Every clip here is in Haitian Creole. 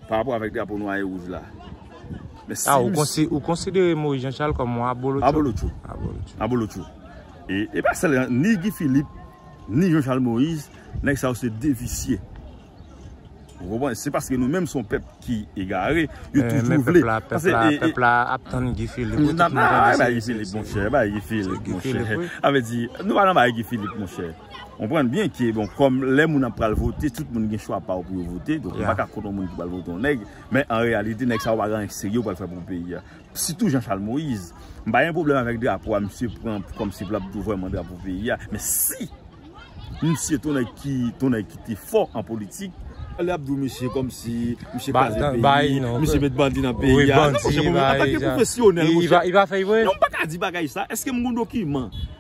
Par rapport avèk drapo nwa e wouj la. Ah ou konsidere Moïse Jean Charles kòm yon abolotcho? Abolotcho. Abolotcho. Abolotcho. E pa sèl, ni Guy Philippe, ni Jean Charles Moïse, nèg sa yo se de visye. Ou konpwen? Se paske nou menm son pèp ki egare, yo toujou vle. Pèp la, pèp la, pèp la ap tann Guy Philippe. Ou nan ba Guy Philippe, monchè. Ba Guy Philippe, monchè. Avè di, nou pa nan ba Guy Philippe, monchè. Konprann byen ke bon kòm lè moun ap pral vote tout moun gen chwa pa yo pou yo vote donk ou pa ka kont yon moun ki pral vote yon nèg men an reyalite nèg sa yo pa gen anyen serye yo pral fè pou peyi a sitou Jean Charles Moïse m pa gen pwoblèm avèk drapo a misye pran kòm si pou l ap tou vwèman drapo peyi a men si misye t yon nèg ki t yon nèg ki te fò an politik lè y ap di w misye kòm si misye kraze peyi misye met bandi nan peyi a non monchè m pa gen pou m kwesyonèl monchè non m pa ka di bagay sa èske m gen yon dokiman.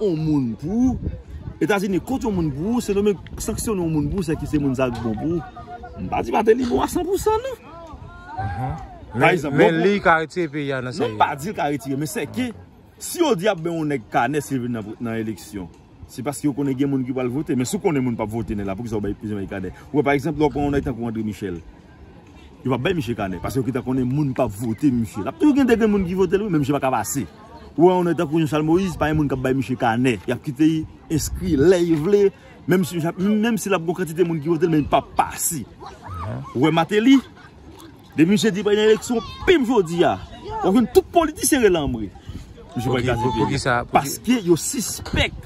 on moun pou ou, Etazini kont yon moun pou ou, Sendomeng sanksyone yon moun pou ou, se ki se moun sa ki bon pou ou. M pa di Mateli bon a 100 pou 100 non. Men li ka retire peyi a nan sa li. Non m pa di l ka retire, men se ke si yo di y ap bay yon nèg kanè si l vin nan eleksyon, se paske yo konnen gen moun ki pral vote. Men si w konnen moun p ap vote nèg la, poukisa w bay yon nèg kanè? Ou wè pa egzanp lè w pran yon nèg tankou Andre Michel, Yo pap bay misye kanè paske yo gentan konnen moun pap vote misye. Lap toujou gen de gen moun ki votel wi men misye paka pase. Ou wè yon nèg tankou Jean-Charles Moïse pa gen moun kap bay misye kanè. Yap kite li enskri lè yo vle menm si menm si lap gon kantite moun ki votel men li pap pase. Ou wè Martelly depi misye di pral gen eleksyon pim jodi a wap jwenn tout politisyen rele anmwe. Misye pral kraze peyi a paske yo sispèk.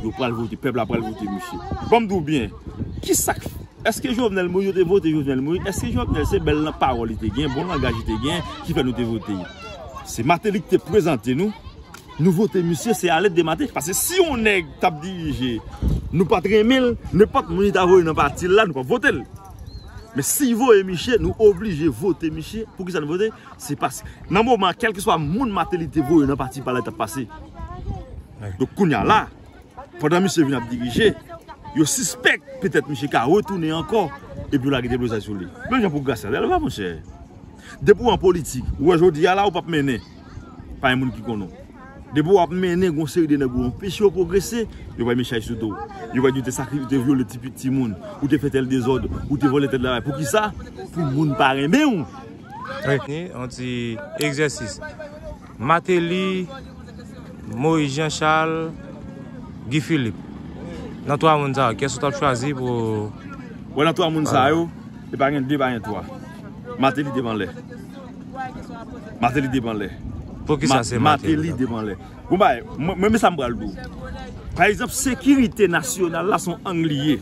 Yo pral vote, pèp la pral vote misye. Banm diw byen, kisak fè, eske Jovenel Moïse yo te vote Jovenel Moïse, eske Jovenel se bèl nan pawòl li te gen, bon langaj li te gen ki fè nou te vote li. Se Martelly ki te prezante nou, nou vote misye se alèt de Martelly. Pase si yon nèg tap dirije, nou pat renmenl, nenpòt moun li ta voye nan patil la nou pap votel. Men si voye misye, nou oblije vote misye, poukisa nou vote? Se pask nan moman kelkeswa moun Martelly te voye nan pati pale tap pase. Donk kounya la, pandan misye vin ap dirije, yo sispèk petèt misye ka retounen ankò epi yo lage deblozay sou li. Menm jan pou Gracia Delva monchè. Depi w an politik, ou wè jodi a la ou pap mennen. Pa gen moun ki konn ou. Depi w ap mennen gon seri de nèg ou anpeche yo pwogrese, yo bay men chay sou do w. Yo va di ou te sakrifi, ou te vyole ti pitit timoun, ou te fè tèl dezòd, ou te vòlè tèl bagay. Poukisa? Pou moun pa renmen w. Ni yon ti egzèsis. Mateli, Moyiz Jan Chal, Gi Filip. Nan 3 moun sa yo, kyès ou t ap chwazi pou. Bon nan 3 moun sa yo, e pa gen 2, e pa gen 3. Mateli devan lè. Mateli devan lè. Poukisa se Mateli devan lè? Bon bagay, mwen men sa m pral di w. Pa egzanp, sekirite nasyonal la se yon ang li ye.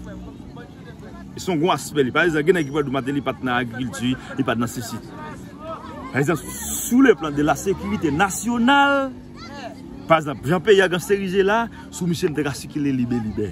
Se yon gwo aspè li. Pa egzanp, gen nèg ki pral di w Mateli pa t nan agrikilti, li pa t nan sesi. Pa egzanp, sou le plan de la sekirite nasyonal, pa egzanp, jan peyi a gen seri je la, sou misye m te ka sikile libelibè.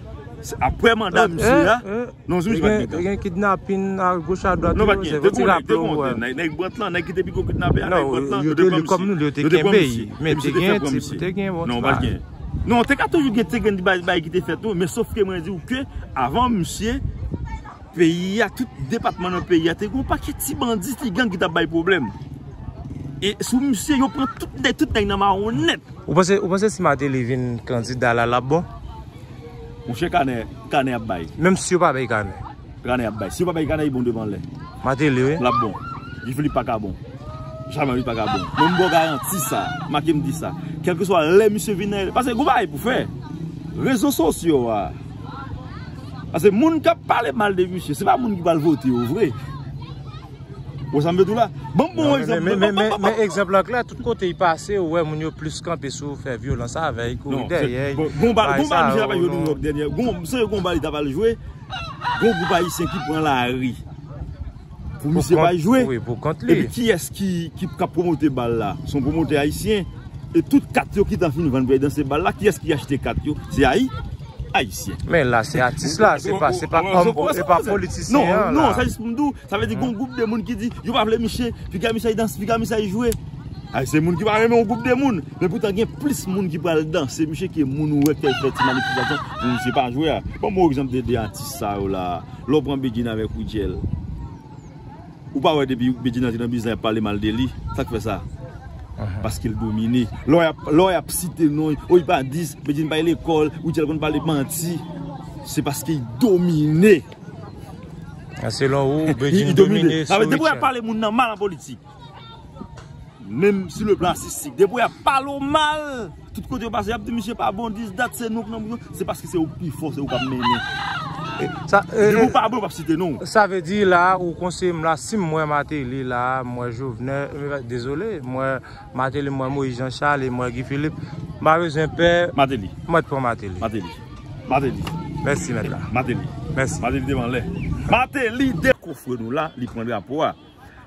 Aprè manda misye a, non jwenn jwenn mitan. Gen kidnapin a goch a dwat. Non pa gen, dekou nèk, dekou nèk te nèk. Nèk brant lan, nèk ki te pi gwo kidnapè a, nèk brant lan. Yo te li kòm nou, yo te kenbe yi. Men te gen, te gen bon ti bagay. Non, te ka toujou gen, te gen di bagay ki te fèt tou. Men sof ke mwen di ou ke, avan misye, peyi a, tout depatman nan peyi a, te gen pa kèti bandi, ti gang ki ta bay problem. E sou misye, yo pran tout nèk, tout nèk nan maron nèt. Ou panse, ou panse si mateli vin kandida la, la bon? Monchè kanè, kanè ap bay. Menm si yo pa bay kanè. Kanè ap bay. Si yo pa bay kanè li bon devan lè. Mateli wi. Lap bon. Guy Philippe pa ka bon. Jamè li pa ka bon. Mwen mbo garanti sa. Make m di sa. Kelke swa lè misye vin nan. Pase gou bay pou fè. Rezo sos yo a. Pase moun kap pale mal de misye. Se pa moun ki pal vote yo vre. Ou sa m vle di w la? Ban m bon egzanp. Men, men, men, men egzanp lan klè. Tout kote li pase, ou wè moun yo plis kanpe sou fè vyolans avè l, kouri dèyè l. Bon, gon bal, gon bal misye t ap al jwe New York dènyè. Gon, m sonje gon bal li t ap al jwe, gon gwoup ayisyen ki pran lari pou misye pa al jwe. Wi, pou kont li. Epi kiyès ki, ki ap pwomote bal la? Se yon pwomotè ayisyen. E tout kat yo ki t ap fin vann pou y al danse bal la, kiyès ki achte kat yo? Se Ayi. Ayisyen. Men la se atis la, se pa se pa kom pou se pa politisyen an la. Non, non, sa jis pou m di w, sa vle di gon gwoup de moun ki di yo pa vle miche, piga miche danse, piga miche jwe. Ay se moun ki pa renmen yon gwoup de moun, men poutan gen plis moun ki pral danse miche ke moun ou wè ki fè ti manifestasyon pou miche pa jwe a. Ban m yon egzanp de 2 atis sa yo la, lè w pran Bedjine avèk Widjèl. Ou pa wè depi Bedjine antre nan biznis la yap pale mal de li, sak fè sa? Paskel domine. Lò yap site non li, oh li pa di, Bedjine pa al lekòl, ou di al konn pale manti, se paske li domine. Selon ou, Bedjine domine sou Rutshelle. Depi yap pale moun nan mal an politik, menm sou le plan atistik, depi yap pale w mal. Tout kote yo pase yap di misye pa bon dis dat se nou ki nan prizon se paske se ou pi fò se ou kap mennen. Depi ou pa bon yo pap site non. Sa vle di la ou konseye m la sim m wè Martelly la m wè Jovenel dezole m wè Martelly m wè Moïse Jean Charles e m wè Guy Philippe m pa bezwen pè Martelly mwen t pran Martelly Martelly Martelly Mèsi mèt la Martelly Mèsi Martelly te vanlè Martelly de kofre nou la li pran drapo a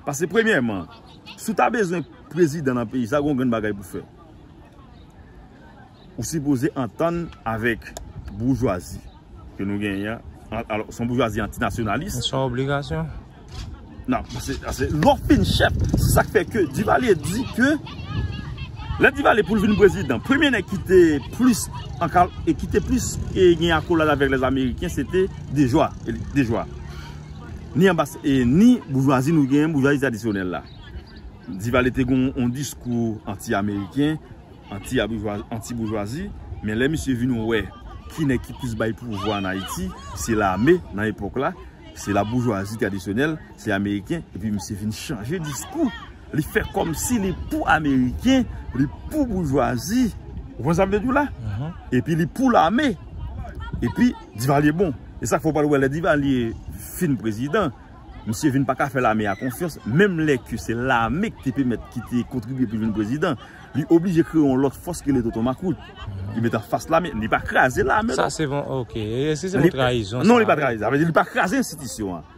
pase premyèman si w ta bezwen prezidan nan peyi sa gon grenn bagay pou fè. Ou sipoze antann avèk boujwazi ke nou genyen an. Alò, son boujwazi antinasyonalis. Son obligasyon. Nan, se, se, lò fin chèf. Se sa k fè ke Divalye di ke, lè Divalye pou l vin prezidan, premye nèg ki te plis ankal, e ki te plis e gen akolad avèk lè Ameriken, se te Dejwa. Dejwa. Ni anba, e ni boujwazi nou genyen, boujwazi tradisyonèl la. Divalye te gen yon diskou anti ameriken, anti boujwazi, men lè misye vin wè ki nèg ki plis bay pouvwa an Ayiti, se lame nan epòk la, se la boujwazi tradisyonèl, se ameriken, epi misye vin chanje diskou, li fè kòm si li pou ameriken, li pou boujwazi, ou konprann sa m vle di w la? Epi li pou lame, epi Divalye bon. E sa k fè w pral wè lè Divalye fin prezidan, Misye vin paka fè lame a konfyans menm lè ke se lame ki te pèmèt ki te kontribye pou l vin prezidan. Li oblije kreye yon lòt fòs ki rele Tonton Makout. Li met anfas lame. Li pa kraze lame non. Sa se yon ok. E si se yon trayizon sa? Non li pa trayize. Sa vle di li pa kraze enstitisyon an.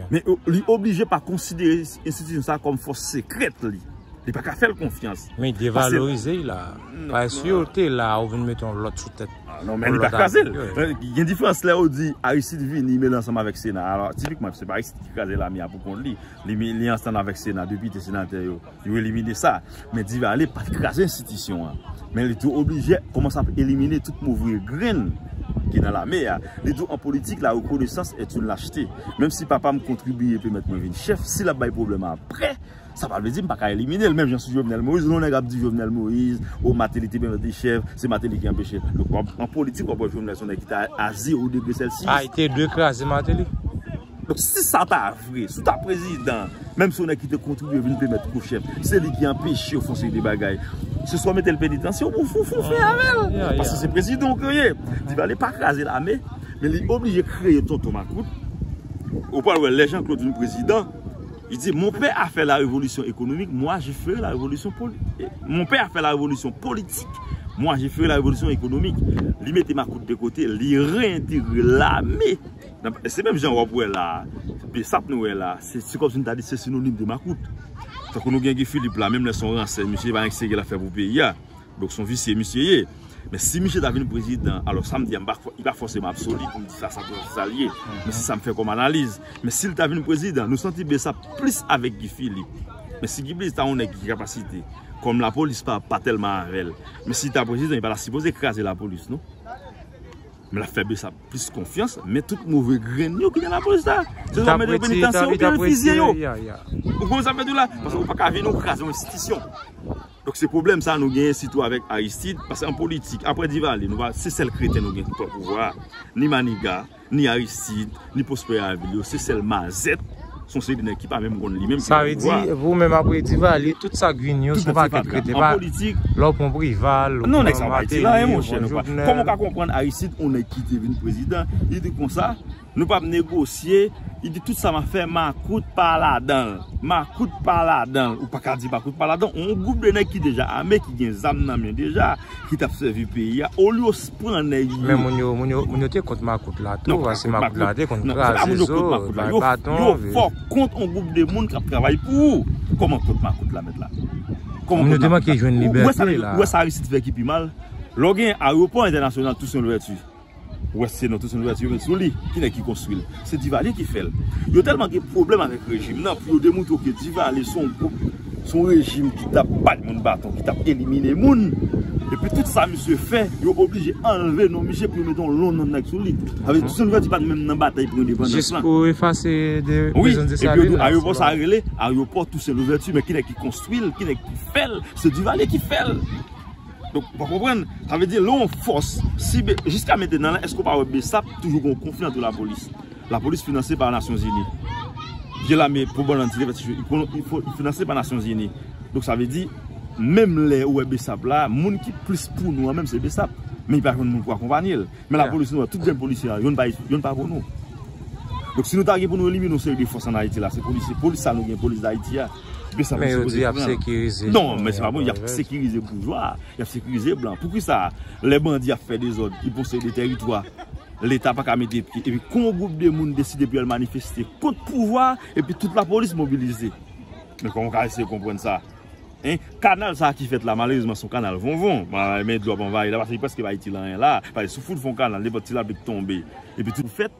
Men li oblije pa konsidere enstitisyon sa kòm fòs sekrèt li. Li paka fè l konfyans. Men devalorize l la. Paske si yo te la ou vin met yon lòt sou tèt. Non men li pa kraze l. Gen diferans lè ou di Aristide vini mele ansanm avèk sena. Alò tipikman se pa Aristide ki kraze lame a pou kont li. Li ansanm avèk sena, depite, senatè yo. Yo elimine sa. Men Divalye pat kraze enstitisyon an. Men li tou oblije kouman sa ap elimine tout move grenn ki nan lame a. Li tou an politik la rekonesans et une lachete. Menm si papa m kontribiye pèmèt mwen vin chèf, si l ap bay pwoblèm aprè. Sa pa vle di m pa ka elimine l menm jan sou Jovenel Moïse. Lè yon nèg ap di Jovenel Moïse, o Mateli te byen vante chèv, se Mateli ki anpeche l. Donk wap an politik wap wè Jovenel se yon nèg ki te a zero degre sèlsiyis. A ete dwe kraze Mateli. Donk si sa ta vre, si w ta prezidan, menm se yon nèg ki te kontribye vin plemèt kou chèf, se li ki anpeche yo fon seri de bagay. Se swa mete l penitansye oubyen w fon fon fè avè l. Paske se prezidan w ke w ye. Divalye pa kraze lame, men li oblije kreye tonton makout. Ou pral wè lè Jean Claude vin prezidan. Li di, Mon pè a fè la revolisyon ekonomik, mwa je fere la revolisyon ekonomik. Li mete makout de kote, li re-entegre lame. Se menm jan wap wè la, besap nou wè la, se si kòmsi nou ta di se sinonim de makout. Tankou nou gen Guy Philippe la, menm lè son ransè, misye pa gen ki se gè la fè pou peyi a. Donk son visye misye ye. Men si misye ta vin prezidan, alò sa m di a, li pa fòseman absoli pou m di sa san pran sa l ye. Men se sa m fè kòm analiz. Men si l ta vin prezidan, nou santi byen sa plis avèk Guy Philippe. Men si Guy Philippe ta yon nèg ki gen kapasite, kòm lapolis pa tèlman avè l. Men si l ta prezidan, li pa ta sipoze kraze lapolis non. Men l ap fè byen sa plis konfyans. Men tout move grenn yo ki nan lapolis la. Se yo ap mete yo penitansye, yo fizye yo. Ou konprann sa m vle di w la? Paske ou pa ka vin ou kraze yon enstitisyon. Donk se pwoblèm sa nou genyen sitou avèk Aristide, paske an politik aprè Divalye nou pa se sèl kreten nou gen ki pran pouvwa a, ni Maniga, ni Aristide, ni Prosper Avil yo, se sèl Mazèt, se yon seri de nèg ki pa menm konn li menm ki pran pouvwa a. Sa vle di pou menm aprè Divalye tout sa k vin yo se yon pakèt kreten, pa lè w pran Prival, ou pran Mateli, ou pran Jovenel. Kòman w ka konprann Aristide yon nèg ki te vin prezidan, li te konsa? Nou pap negosye, li di tout sa map fè makout pa ladanl. Makout pa ladanl, ou paka di makout pa ladanl, yon gwoup de nèg ki deja ame, ki gen zam nan men deja, ki tap sèvi peyi a, olye yo pran nèg yo. Men moun yo, moun yo, moun yo te kont makout la tou, paske makout la te konn kraze zo, bay baton. Yo fò kont yon gwoup de moun kap travay pou ou. Koman kont makout la mèt la? Moun yo te manke jwenn libète la. Ou wè sa Aristide fè ki pi mal? Lè w gen ayewopò entènasyonal Toussaint Louverture, Ou wè se nou tout se nou atire sou li. Ki nèg ki konstwi l? Se Divalye ki fè l. Yo tèlman gen pwoblèm avèk rejim nan pou yo demoutre ke Divalye se yon gwoup, se yon rejim ki t ap bat moun baton, ki t ap elimine moun. Epi tout sa misye fè, yo oblije anlve non misye pou yo mete yon lon non nèg sou li. Sa vle di Toussaint Louverture pa t menm nan batay pou endepandans lan. Jis pou efase de prizon Desalin la. Wi, epi yo di arewopò sa a rele arewopò Toussaint Louverture. Men ki nèg ki konstwi l? Ki nèg ki fè l? Se Divalye ki fè l. Donk ou pa konprann, sa vle di lè yon fòs, si be, jiska metenan la èske ou pa wè besap toujou gen yon konfli antre lapolis, lapolis finanse pa nasyonzini, vye lame pou bon lantite fè ti chou, li fo, li finanse pa nasyonzini, donk sa vle di menm lè ou wè besap la, moun ki plis pou nou an menm se besap, men li pa jwenn moun pou akonpanye l, men lapolis nou wè tout grenn polisye a, youn pa, youn pa pou nou. Donk si nou ta gen pou nou elimine yon seri de fòs an Ayiti la se polisye, polis sa nou gen, polis Dayiti a. Men yo di yap sekirize. Non men se pa bon yap sekirize boujwa, yap sekirize blan. Poukisa lè bandi ap fè dezòd, ki posede teritwa, leta pa ka mete pye. Epi kou yon gwoup de moun deside pou yo al manifeste kont pouvwa, epi tout lapolis mobilize. Men kòman w ka eseye konprann sa? Hein? Kanal sa ki fèt la malerezman se yon kanal vonvon. Men dlo ap anvayi la paske li prèske pa itil anyen la. Pase si w fout fè yon kanal nenpòt ti lapli k tonbe epi tout fèt.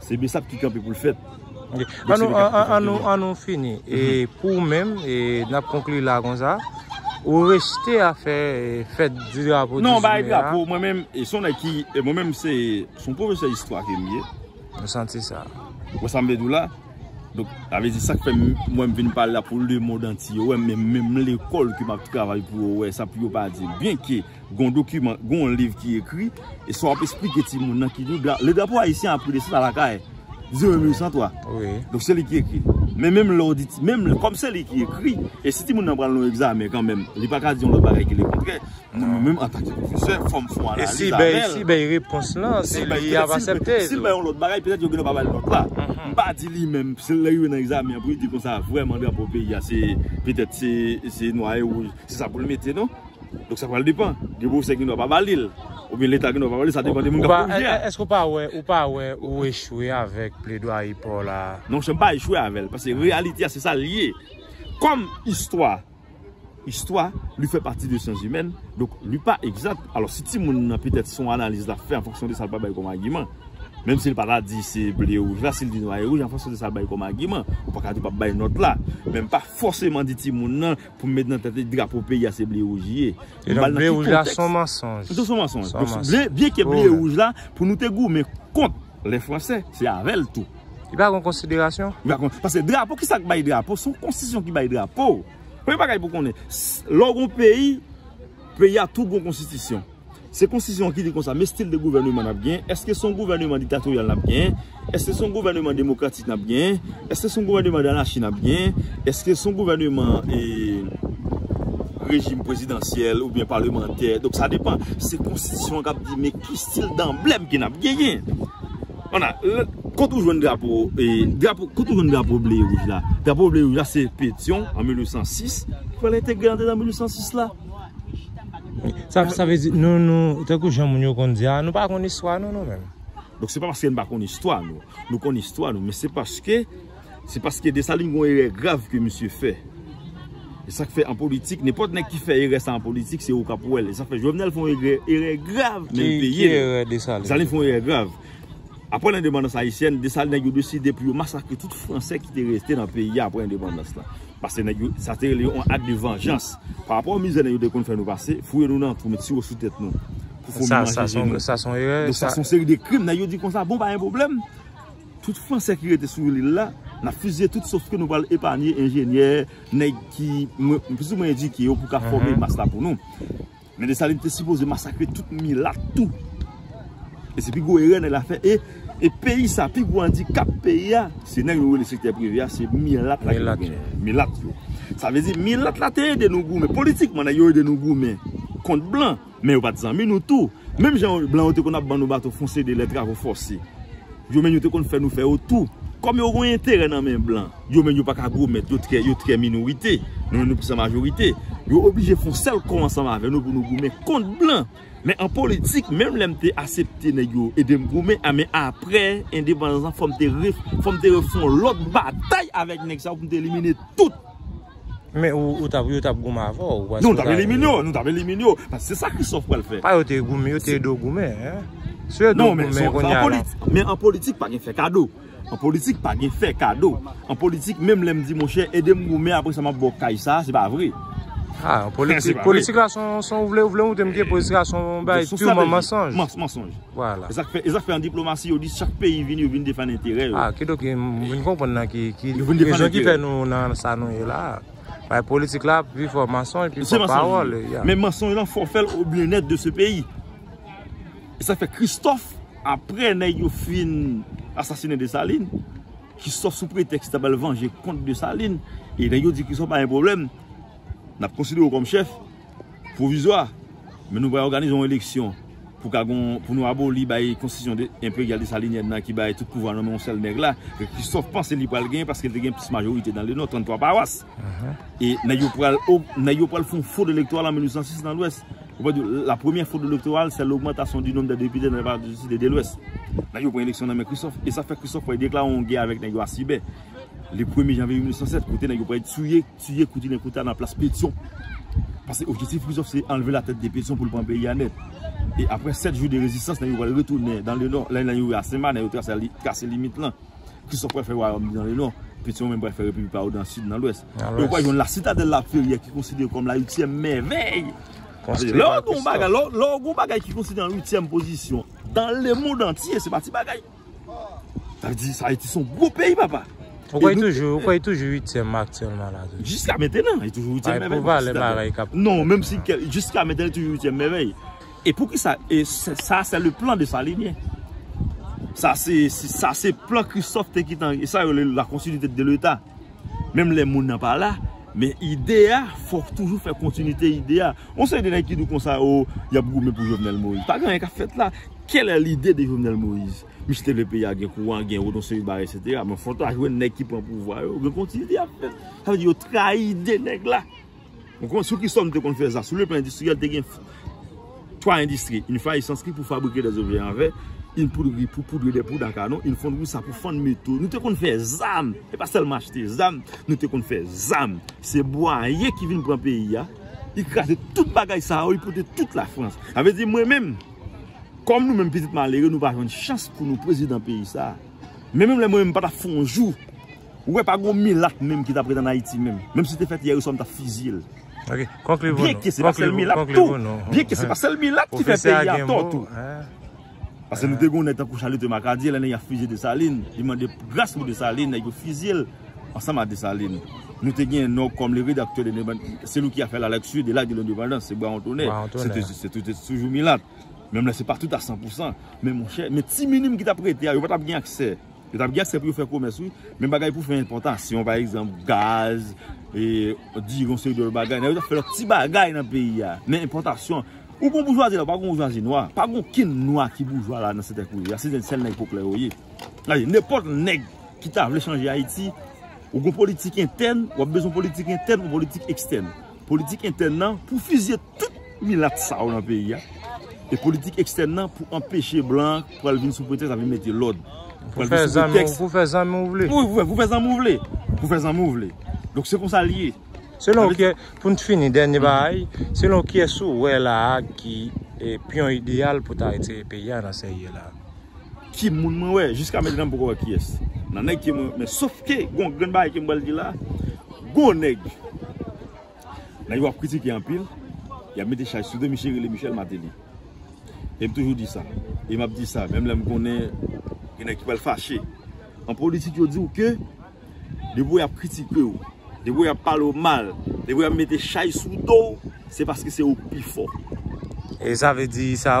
Se besap ki kanpe poul fèt. An nou fini e pou ou menm e nap konkli la konsa ou rejte a fè fèt di drapo 18 me a? Non ba e drapo mwen menm e son nèg ki e mwen menm se son pwofesè istwa ke m ye. Mwen santi sa. Ou konprann sa m vle di w la? Donk sa vle di sak fè m mwen m vin pale la pou lemond antye wè m menm lekòl ke map travay pou yo wè sa pou yo pa di byenke. Gon dokiman, gon liv ki ekri, e sa w ap esplike timoun nan ki liv la. Le drapo ayisyen a pri de sa lakay, di w 1803. Donk se li ki ekri. Men menm lè w di, menm lè, kòm se li ki ekri, e si timoun nan pral nan yon egzamen kanmenm, li pa ka di yon lòt bagay ki le kontrè, mwen menm menm antake pwofesè, fò m fon analiz avè l. E si bèy, si bèy repons lan, se li y ap asepte. Si l bèy yon lòt bagay, petèt yo genlè pa ba l nòt la. M pa di li menm, se lè rive nan egzamen an pou li di konsa, vrèman drapo peyi a se, petèt se, se nwa e wouj, se sa pou l mete non. Donk sa pral depan. Gen pwofesè ki gen dwa pa ba li l. Oubyen leta gen dwa pa ba li l. Sa depan de moun k ap fè pwojè a. Èske ou pa wè, ou pa wè ou echwe avèk pledwaye pa w la a? Non chè, m pa echwe avè l. Paske reyalite a se sa l ye. Kòm istwa, istwa, li fè pati de syanzimèn, donk li pa egzat. Alò si ti moun nan petèt son analiz l ap fè an fonksyon de sa l pa bay kòm agiman. Menm si l pa ta di se ble e wouj la, si l di nwa e wouj an fonksyon de sa l bay kòm agiman. Ou pa ka di w pa bay nòt la. Men m pa fòseman di ti moun nan. Pou m met nan tèt li drapo peyi a se ble wouj li ye. E donk ble wouj la son mansonj. Son mansonj. Byen ke ble wouj la pou nou te goumen kont le franse se avèl tou. Li pa kon konsiderasyon? Li pa kon. Pase drapo ki sak bay drapo son konstisyon ki bay drapo. Premye bagay pou konnen. Lè w gon peyi, peyi a tou gon konstitisyon. Se konstisyon an ki di konsa, men stil de gouvèneman n ap gen, èske se yon gouvèneman diktatoryal n ap gen, èske se yon gouvèneman demokratik n ap gen, èske se yon gouvèneman danachi n ap gen, èske se yon gouvèneman rejim prezidansyèl oubyen palemantè, donk sa depan. Se konstisyon an k ap di men ki stil danblèm ke n ap genyen. Ana, kote ou jwenn drapo, kote ou jwenn drapo ble e wouj la? Drapo ble e wouj la se Petyon an 1806, fè l entegre antre nan 1806 la. Sa vle di nou nou tankou jan moun yo konn di a nou pa konn istwa nou nou menm. Donk se pa paske nou pa konn istwa nou. Nou konn istwa nou men se paske se paske Desalin gon erè grav ke misye fè. E sak fè an politik nenpòt nèg ki fè erè sa an politik se ou kap wèl. E sak fè Jovenel fon erè grav men li peye. Ki erè Desalin fè? Desalin fon erè grav. Apre lendepandans ayisyèn, Desalin nèg yo deside pou yo masakre tout Fransè ki te rete nan peyi a apre lendepandans la. Pase nèg yo, sa te rele yon ak de vanjans. Pa rapò mizè nèg yo te konn fè nou pase, fouye nou nan twou, met siwo sou tèt nou, pou foumi manje je nou. Sa son erè. Donk sa son seri de krim. Nèg yo di konsa, bon pa gen pwoblèm, tout Fransè ki rete sou lil la, n ap fiziye tout sof ke nou pral epanye enjenyè, nèg ki plis ou mwen edike yo pou ka fòme mas la pou nou. Men Desalin te sipoze masakre tout milat tou. E se pi gwo erè nèg la fè. E peyi sa, pi gwo andikap peyi a, se nèg nou rele sektè prive a, se milat la ki genyen. Milat yo. Sa vle di, milat la te ede nou goumen. Politikman, nèg yo ede nou goumen kont blan. Men yo pa t zanmi nou tou. Menm jan blan yo te konn ap ban nou bato fon se de lè travo fòse. Yo menm yo te konn fè nou fè yo tou. Kòm yo gen yon enterè nan men blan, yo menm yo pa ka gwo mèt, yo trè minorite, nou menm nou plis an majorite. Yo oblije fè yon sèl kò ansanm avè nou pou nou goumen kont blan. Men an politik, menm lè m te asepte nèg yo ede m goumen, a men apre endepandans lan fò m te refè yon lòt batay avèk nèg sa yo pou m te elimine tout. Men ou tap, yo tap goumen avè w. Non, nou tap elimine yo, nou tap elimine yo. Paske se sa Christophe pral fè. Pa yo te goumen, yo te ede w goumen. Si yo ede w goumen kounye a la. Men an politik pa gen fè kado. An politik pa gen fè kado. An politik menm lè m di monchè ede m goumen apre sa m ap ba w kaj sa, se pa vre. Ha, an politik, politik la son ou vle ou vle ou te m ke politik la son bay piu manman sonj. Manman sonj. Vwala. Esak fè, esak fè an diplomasi yo di chak peyi vini yo vini defann enterè yo. Ah ki do ki, mwen konprann nan ki, ki rezon ki fè nou nan sa nou ye la. Bay politik la pi fò mansonj, pi fò pawòl. Se mansonj. Men mansonj lan fò fèl o byennèt de se peyi. Esak fè Kristof apre nèg yo fin asasine Desalin, Kristof sou pretèks ta bal vanje kont Desalin, e nèg yo di Kristof pa gen pwoblèm, nap konsidere w kòm chèf, pwovizwa, men nou pral òganize yon eleksyon pou ka gon, pou nou aboli bay konstitisyon enperyal desalinyèn nan ki bay tout pouvwa nan men yon sèl nèg la, ke Kristòf panse li pral genyen paske li te gen plis majorite nan le nò, 33 pawas. E nèg yo pral, nèg yo pral fè yon fwod elektoral an 1806 nan lwès. Yo pral di, la premyè fwod elektoral sè logmantasyon di nonm dè depite nan depatman du Sud e de Lwès. Nèg yo pran eleksyon nan men Kristòf, e sa fè Kristòf pral deklare yon gè avèk nèg yo Asibè, le premye janvye 1807, kote nèg yo pral touye. Tiye kouti nen kouta nan plas Petion. Pase objektif Christophe se anlve la tèt de Petion pou l pran peyi a nèt. E apre 7 jou de rezistans nen yo pral retounen dan le nò. Lè nen yo rive a Senma nen yo trase limit lan. Christophe pral fè wayòm li dan le nò. Petion menm pral fè repiblik pa yo dan sid nan lwès. E yo pral jwenn la sitadèl la Ferrière ki konsidere kòm la uityèm mèvèy. Paske lè w gon bagay ki konsidere an uityèm pozisyon dan le mond antye se pa ti bagay. Sa vle di sa Ayiti son gwo peyi papa. Ou kwè toujou, ou kwè toujou 8 tièm aktyèlman la toujou. Jiska mentenan li toujou 8 tièm mèvèy. Ay pou valè bagay kap. Non, menm si jiska mentenan li toujou 8 tièm mèvèy. E pou kisa, e sa se le plan de Salinien. Sa se, sa se plan Christophe te kitan, e sa yo le la kontinite de l'Etat. Menm lè moun nan pa la, men ide a, fòk toujou fè kontinite ide a. Yon seri de nèg ki di w konsa, o, y ap goumen pou Jovenel Moïse. Pa gen anyen k ap fèt la. Quelle est l'idée de Jovenel Moïse? Misye te vle peyi a gen kouran, gen wout, yon seri de bagay etsetera. Men fòk ta jwenn nèg ki pran pouvwa yo, gen kontinite y ap fèt. Sa vle di yo trayi ide nèg la. Ou konn sou ki sòl nou te konn fè sa? Sou le plan endistriyèl, te gen twa endistri, yn fay esanskri pou fabrike dè objè an vè, yn poudri pou poudre dè poud a kanon, yn fondri sa pou fann meto. Nou te konn fè zam! E pa sèlman achte zam, nou te konn fè zam. Se Bwaye ki vin pran peyi a, li kraze tout bagay sa yo, li pote tout la Frans. Sa vle di mwen menm, kòm nou menm pitit malere, nou pa jwenn chans pou nou prezidan peyi sa. Men menm lè mwen menm m pa ta fè yon jou. Ou wè pa gon milat menm ki tap ret an Ayiti menm. Menm si te fèt yè ou swa m tap fiziye l. Ok. Konkli pou nou. Byen ke se pa sèl milat tou. Byen ke se pa sèl milat ki fè peyi a tò tou. Pase nou te gon nèg tankou Chalite Makadye lè nèg la fiziye Desalin. Li mande gras pou Desalin. Nèg yo fiziye l ansanm a Desalin. Nou te gen Nò kòm le redaktè de Levan. Seli ki a fè la lekti de la de lendepandans. Se Brawon Tonè. Brawon Tonè. Se te toujou milat. Menm lè se pa tout a 100%. Men monchè. Men ti minim ki tap rete a yo pa tap gen aksè. Yo tap gen aksè pou yo fè komès wi, men bagay pou fè enpòtasyon pa egzanp gaz, diri yon seri de lòt bagay, nèg yo tap fè lòt ti bagay nan peyi a, men enpòtasyon, ou gon boujwazi la ou pa gon boujwazi nwa, pa gon ken nwa ki boujwa la nan sètè kouye a, se nèg sèl nèg poplè yo ye. Gade nenpòt nèg ki ta vle chanje Ayiti, ou gon politik entèn, wap bezwen politik entèn ou politik ekstèn. Politik entèn nan pou fizye tout milat sa yo nan peyi a. E politik ekstèn nan pou anpeche blan pral vin sou pretèks lap vin mete lòd. Pou fè zanmi ou vle. Pou fè zanmi ou vle. Pou fè zanmi ou vle. Donk se konsa li ye. Selon ki, pou nou fini dènye bagay, selon kiyès ou wè la a ki piyon ideyal pou ta retire peyi a nan sa li ye la a? Ki moun mwen wè? Jiska mèt nan poko wè ki es. Nan nèg ki mwen wè. Men sof ke gon grenn bagay ke mwen bal di la. Gon nèg. Nan yo ap kritike anpil. Ya mete chay sou de misye rele Michel Mateli. E m toujou di sa. E m ap di sa. Menm lè m konnen gen nèg ki pral fache. An politik yo di ou ke. Depi ou ap kritike ou. Depi ou ap pale ou mal. Depi ou ap mete chay sou do ou. Se paske se ou ki pi fò. E sa vle di sa.